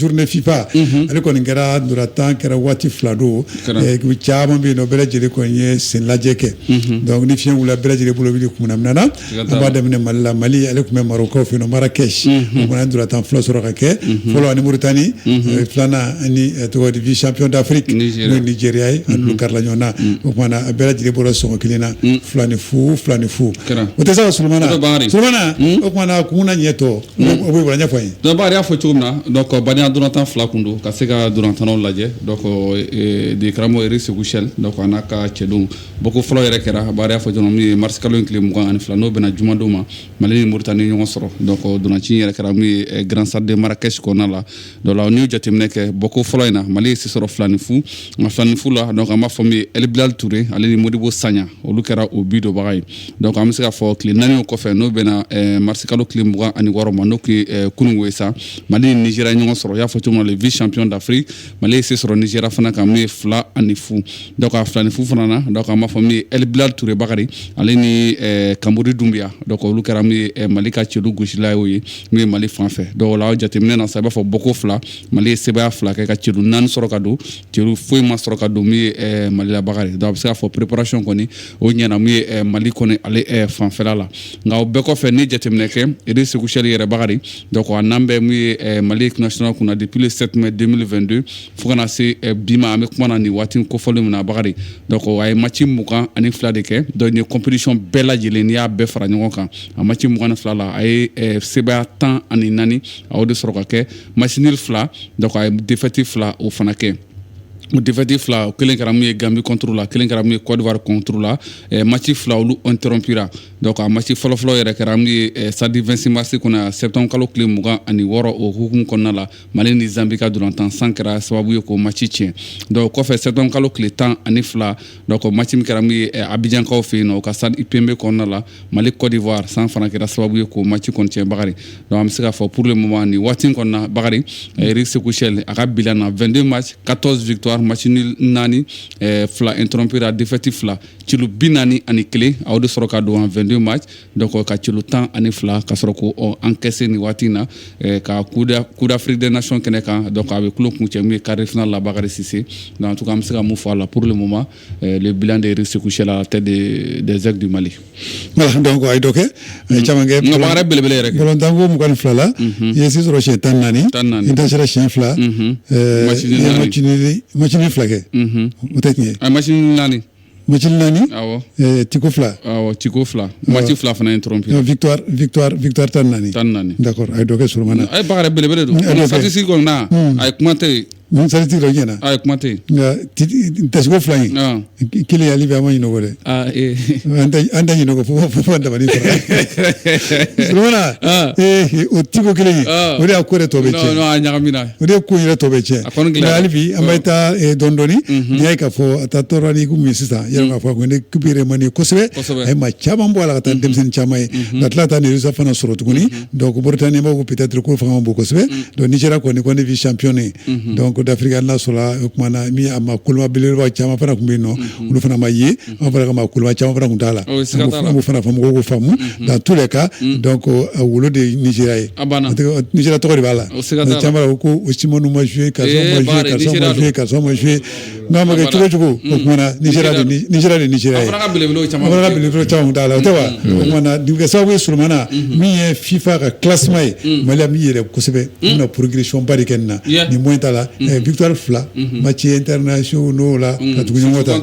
journée fifa mhm. ale kɔni kɛra ndolantan kɛra waati fila don ekipu caman bɛ yen nɔ bɛɛ lajɛlen kɔni ye sen lajɛ kɛ mhm. donc ni fiɲɛ wulila bɛɛ lajɛlen bolo b'i kumana minan na an b'a daminɛ mali la mali ale tun bɛ marɔkaw fɛ yen nɔ marakɛsi mhm. o fana ye ndolantan fila sɔrɔ ka kɛ fɔlɔ ani moritani eh, filanan ani eh, tɔgɔ di vice champion d'afrique n'o ye nigeria ye ani karila ɲɔgɔn na o kumana a bɛɛ lajɛlen bɔra sɔngɔ kelen na fila ni fu fila ni fu o tɛ se ka solomana solomana o kumana kun na ɲɛ tɔ dɔnku y'a fɔ cogo min na bani dɔrɔn tan fila tun don ka se ka dɔrɔn tan lajɛ demo segu seli n'a ka cɛdenw bɔ ko fɔlɔ yɛrɛ kɛra y'a fɔ dɔrɔn ye marika in tile mugan ani fila n'o bɛna jumadenw ma mali ni mori tan ni ɲɔgɔn sɔrɔ dɔn dɔrɔnci yɛrɛ kɛra garansaden mara kɛsi kɔnɔna la donc o la n'i ye jateminɛ kɛ bɔko fɔlɔ in na mali ye se sɔrɔ fila ni fu nka fila ni fu la donc an b'a fɔ min ye el bilal ture ale ni modibo sagnan olu kɛra o bi donbaga ye donc an bɛ se k'a fɔ tile naani kɔfɛ n'o bɛnna eh, marisikalo tile mugan ani wɔɔrɔ ma n'o tun ye kunungo ye sa mali ni nigeria ɲɔgɔn sɔrɔ y'a fɔ cogo min na le vice champion d'afrique mali ye se sɔrɔ nigeria fana kan min ye fila ani fu donc a fila ni fu fana na donc an b'a fɔ min ye el bilal ture bakari ale ni eh, kamori dunbiya donc olu kɛra min ye eh, mali ka celu gosila y'o ye min ye mali fan fɛ donc o la jateminɛ na sa i b'a fɔ bɔko fila mali ye sebaya fila kɛ ka celu naani sɔrɔ ka don celu foyi ma sɔrɔ ka don min ye eh, mali la bakari donc an bɛ se k'a fɔ préparation kɔni o ɲɛna min ye eh, mali kɔni ale eh, fanfɛla la nka o bɛɛ kɔfɛ ni jateminɛ kɛ eric sékou chelle yɛrɛ bakari donc a nan bɛ min ye eh, mali équipe nationale kunna depuis le 7 mai 2022 fo ka na se eh, bi ma an bɛ kuma na nin waati kofɔlen min na bakari donc a ye match mugan ani fila de kɛ donc n'i ye compétition bɛɛ lajɛlen n'i y'a bɛɛ fara ɲɔgɔn kan a maci mugan ni fila la a ye eh, sebaaya tan ani naani a y'o de sɔrɔ ka kɛ match nul fila donc a ye defɛti fila o fana kɛ o defɛti fila o kelen kɛra mun ye gambi kɔntoro la kelen kɛra mun ye kɔdiwari kɔntoro la eh, maci fila olu interrompira donc a maci fɔlɔfɔlɔ yɛrɛ kɛra mun ye eh, stade 26 marsi kɔnɔ septembre kalo tile mugan ani wɔɔrɔ o hukumu kɔnɔna la mali ni zambi ka dolantan san kɛra sababu ye k'o maci tiɲɛ donc kɔfɛ septembre kalo tile tan ani fila donc maci min kɛra mun ye eh, abijankaw fɛ yen nɔ o ka stade ebimpé kɔnɔna la mali côte d'ivoire san fana kɛra sababu ye k'o maci kɔni tiɲɛ bakari donc an bɛ se k'a fɔ pour le moment nin waati kɔnɔna bakari eh, eric sékou chelle a ka bilan na 22 match 14 victoire match nul naani eh, fila interrompira défaite fila celu bi naani ani kelen a y'o de sɔrɔ ka don en 22 match donc ka celu tan ani fila ka sɔrɔ k'o encaisser nin waati na eh, can coupe d'afrique des nations kɛnɛ kan donc a bɛ tulon kuncɛ mun ye quart de finale la bakari sise donc en tout cas an bɛ se ka mun fɔ a la pour le moment Euh, le bilan d'Éric Sékou Chelle à la tête des, des aigles du Mali. Voilà, donc a ye dɔ kɛ caman kɛ baara belebele yɛrɛ bɔlɔntanko mugan ni fila la i ye se sɔrɔ siɲɛ tan naani i dasira siɲɛ fila match nul fila kɛ o tɛ tiɲɛ ye match nul naani match nul naani awɔ tiko fila awɔ tiko fila match fila fana interrompu victoire victoire victoire tan naani tan naani d'accord a ye dɔ kɛ Sulemana a ye baara belebele donc statistique kɔni na a ye kuma tɛ Statistique ɲɛna a ye kuma tɛ dasiko fila in kelen ale bɛ an ma ɲinɛ o kɔ dɛ an tɛ ɲinɛ o kɔ fo an dabali fɛ o tiko kelen o de ko tɔ bɛɛ ɲagamina o de ye ko yɛrɛ tɔ bɛɛ tiɲɛ hali bi an bɛ taa dɔɔnin dɔɔnin n'i y'a ye k'a fɔ a taa tɔɔrɔ ni min sisan yɛrɛ k'a fɔ ko n'équipe remanié kosɛbɛ a ye maa caman bɔ a la ka taa denmisɛnnin caman ye ka tila ka taa nin résultat fana sɔrɔ tuguni donc Mauritanie b'a ko peut-être k'o fanga man bon kosɛbɛ mm. donc Nigeria kɔni ko ne vice-champion ye mm-hmm. donc d'Afrique n'a sɔrɔla o tuma na min a maa koloma belebeleba caman fana tun bɛ yen nɔ mm-hmm. olu fana ma ye mm-hmm. an fana ka maa koloma caman fana tun t'a la an b'o fana fɔ mɔgɔw k'o faamu dans tous les cas mm. donc euh, a wolo de ye Nigeria ye euh, Nigeria tɔgɔ de b'a la caman b'a fɔ ko Osimhen ma jouer karisa ma jouer karisa ma jouer karisa ma jouer nka a ma kɛ cogo o cogo o kuma na Nigeria de Nigeria ye an fana ka belebelew caman t'a la o tɛ wa o kuma na nin bɛ kɛ sababu ye Sulemana min ye FIFA ka classement ye Mali an bɛ yɛlɛn kosɛbɛ an bɛna progression ba de kɛ nin na nin moyen t'a la victoire fila match internationaux la ka tugu ɲɔgɔn ta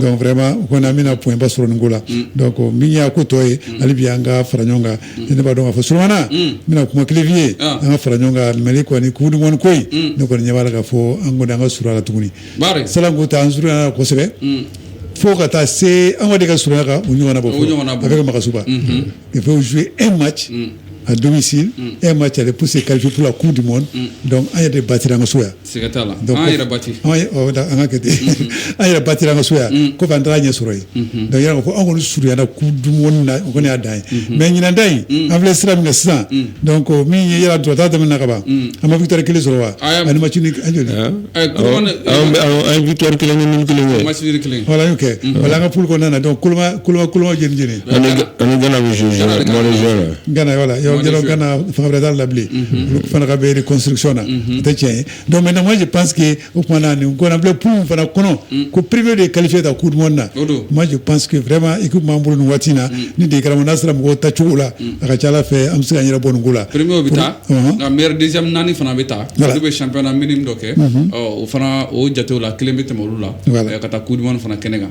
donc vraiment o kɔni an bɛna point ba sɔrɔ nin ko la donc min y'a ko tɔ ye hali bi an ka fara ɲɔgɔn kan ne b'a dɔn ka fɔ suana n bɛna kuma kelen fi ye an ka fara ɲɔgɔn kan mɛ kɔni ko in ne kɔni ɲɛ b'a ka fɔ an kɔni an ka suka tuguni salanku taa an surunya kosɛbɛ fo ka taa se an de ka surunya kan u ɲɔgɔn bɔ ɲɔgɔn a bɛ ka makasuba i bɛ su e ma ci a don e ma cɛ pse kalifila ku di dɔn an yɛrɛ de ba an kaso yan Siga t'a la an yɛrɛ batira an ka kɛ ten an yɛrɛ batira an ka so yan k'a fɔ an taara ɲɛ sɔrɔ yen donc yɛrɛ ko anw kɔni surunyara coupe du monde na o kɔni y'a dan ye mais ɲinan ta in an filɛ sira min na sisan donc min ye yɛrɛ dɔrɔnta tɛmɛna ka ban an ma victoire kelen sɔrɔ wa ani match nul joli an ye victoire kelen ni nul kelen kɛ voilà an ka poule kɔnɔna na donc koloba koloba juin An an gana bɛ zo gana yɔrɔ la yɔrɔ gana fan wɛrɛda la bilen fana ka bɛri kɔsisɔn na tɛ tiɲɛ don mɛ namaji pansi que o tumaumana na gbilen p fana kɔnɔ ko perebife de ye kalife ka kuru na maji pansseke fɛma i b'an bolo ni waati na ni de kana n'a sera mɔgɔw ta cogo la a ka ca fɛ an bɛ se ka yɛrɛ bɔ nin la perepiy bɛ taa nka mid naani fana bɛ taa bɛ sanpna mini dɔ kɛ o fana o jatew la kelen bɛ tɛmɛ olu la ka taa ku fana kɛnɛ kan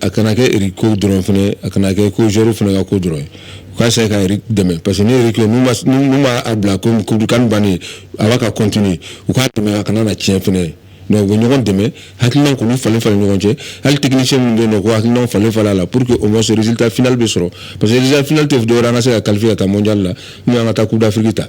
a kana kɛ Eric ko dɔrɔn fana a kana kɛ ko zoro fana ka ko dɔrɔn k'a se ka dɛmɛ parce que ne kɛ b'a bila ko CAN bannen a b'a ka continuer u k'a dɛmɛ a kana na tiɲɛ fana ye mɛ u bɛ ɲɔgɔn dɛmɛ hakili kɔni falen fara ɲɔgɔn cɛ hali technicien min bɛ nɔn ko hakilina falen fara la pour que au moins résultat final bɛ sɔrɔ parce que final tɛ dɔw an ka se ka qualifier ka taa mondial la n'u y' ka taa coupe d'Afrique ta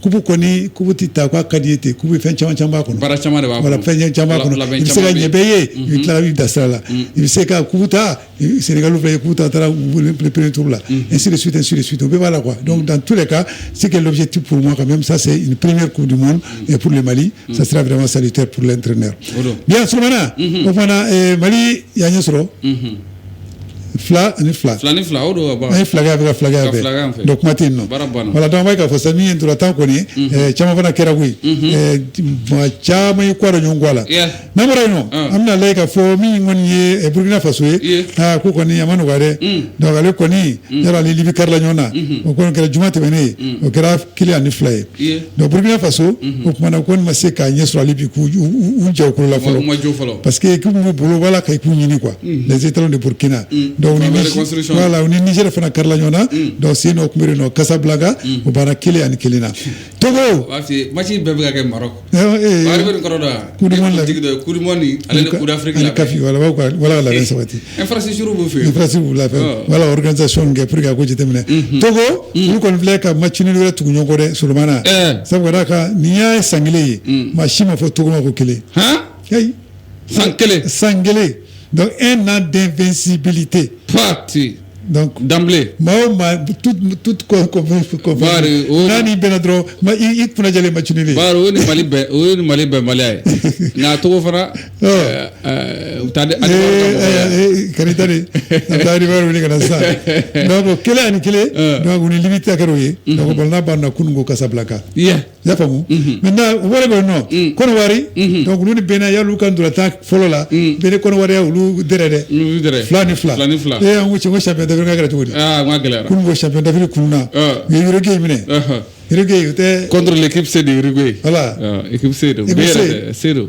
coupe kɔni coupe tɛ ta k'a ka di i ye ten coupe fɛn caman caman b'a kɔnɔ baara caman de b'a kɔnɔ fɛn caman kɔnɔ i bɛ se ka ɲɛ bɛɛ ye i bɛ tila i da sira la i bɛ se ka coupe ta Sénégal fɛ coupe ta taara premier tour la ainsi de suite ainsi de suite bɛɛ b'a la quoi donc dans tous les cas c'est que l'objectif pour moi quand même ça c'est une première coupe du monde et pour le Mali ça sera vraiment salutaire pour l'entraîneur bien Solomana o fana Mali y'a ɲɛ sɔrɔ Fila ni fila fila ni fila o don ka ye filakɛ bɛ filakɛ bɛɛ kuma tɛ yen voilà donc ka fɔ min ye ntolatan kɔni caman fana kɛra koyi caman ye kɔrɔ ɲɔgɔn ga la n'a bɔra yen an bɛna ale ka fɔ min kɔni ye burkina faso ye aa ko kɔni a ma nɔgɔ donc ale kɔni yɛrɛ ni Libye karila ɲɔgɔn na o kɔni kɛra juma tɛmɛnen o kɛra kelen ani fila ye Iye. donc burkina faso o kumana kɔni ma se k'a ɲɛ sɔrɔ hali bi k'u u- u- u jɔ u kolo la U ma jɔ fɔlɔ. parce que équipe b'u bolo wala ka équipe ɲini quoi les étalons de burkina donc Pour la Niger- reconstruction. voilà u ni niger fana karila ɲɔgɔn na donc sen nɔ kunbere nɔ casablanca o banna kelen ani kelen na togo u b'a f'i ye match bɛɛ bɛ ka kɛ Maroc CAF voilà voilà sabati infrastructure voilà organisation kɛ pour ka ko jateminɛ Togo olu kɔni filɛ ka match nin wɛrɛ tugu ɲɔgɔn kɔ dɛ Solomana sabu ka nin ye san kelen ye maa si ma fɔ Togo ma ko kelen san kelen san kelen donc un an d'invincibilité pate donc d'emblée maa o maa tout tout ko ko ko Bari, o- n'a n'i bɛnna dɔrɔn ma i i kunna jɛlen match nin de bari o ye nin mali bɛɛ o ye nin mali bɛɛ maliya ye nka a Togo fana Ɔ. ɛɛ, ɛɛ, u taa di ali wari ka mɔgɔ ye. kari ta de a bɛ taa riba wuli ka na sisan donc kelen ani kelen Ɔ. donc u ni Libye ta kɛra o ye donc ballon banna kunun ko Casablanca Yeah. y'a faamu maintenant u wɛrɛ bɛ yen nɔ kɔnɔwari donc olu ni Bénin y'olu ka ntolatan fɔlɔ la Bénin kɔnɔwari ya olu dɛrɛ dɛ Olu dɛrɛ. fila ni fila Fila ni fila. ee an ko cɛ ko champion d'Afrique ka kɛra cogo di aa n ka gɛlɛyara kunun ko champion d'Afrique kunun na Ah. u ye Uruguay minɛ Ɔhɔ. Uruguay o tɛ contre l'équipe C de Uruguay voilà Ah, équipe C don Équipe bɛɛ yɛrɛ C. tɛ C don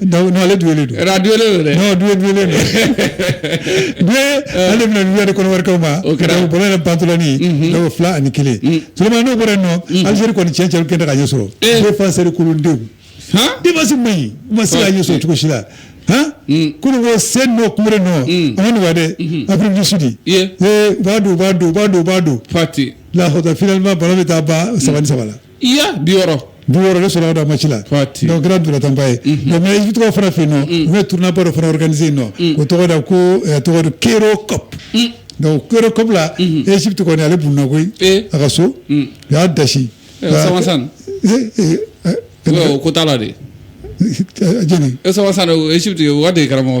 ale du don dɛ du dulen ale bɛna n wɛrɛ kɔnɔwarikaw ma o kɛra ballon bantɔ in fila ani kelen Solomana n'o bɔra nɔ Algérie kɔni tiɲɛ tiɲɛ kɛnɛ ka ɲɛ sɔrɔ défenseur kolondenw défense man ɲi u ma se ka ɲɛ sɔrɔ cogosi la kɔmi sen nɔ kunbere nɔ an nin dɛ Afrique du Sud b'a don b'a don b'a don b'a don pati la finalement ballon bɛ taa ban saba saba la i ya bi wɔɔrɔ bi wɔɔrɔ le sɔrɔ da match la donc kɛra ntolatanba ye mais Egypte kɔ fana fɛ yen nɔ u bɛ tournoi ba dɔ fana organiser yen nɔ o tɔgɔ da ko tɔgɔ do Cairo Cup donc Cairo Cup la Egypte kɔni ale bunna koyi a ka so u y'a dasi sawasan ko t'a la de jɛni sawasan Egypte o ka de ye karamɔgɔ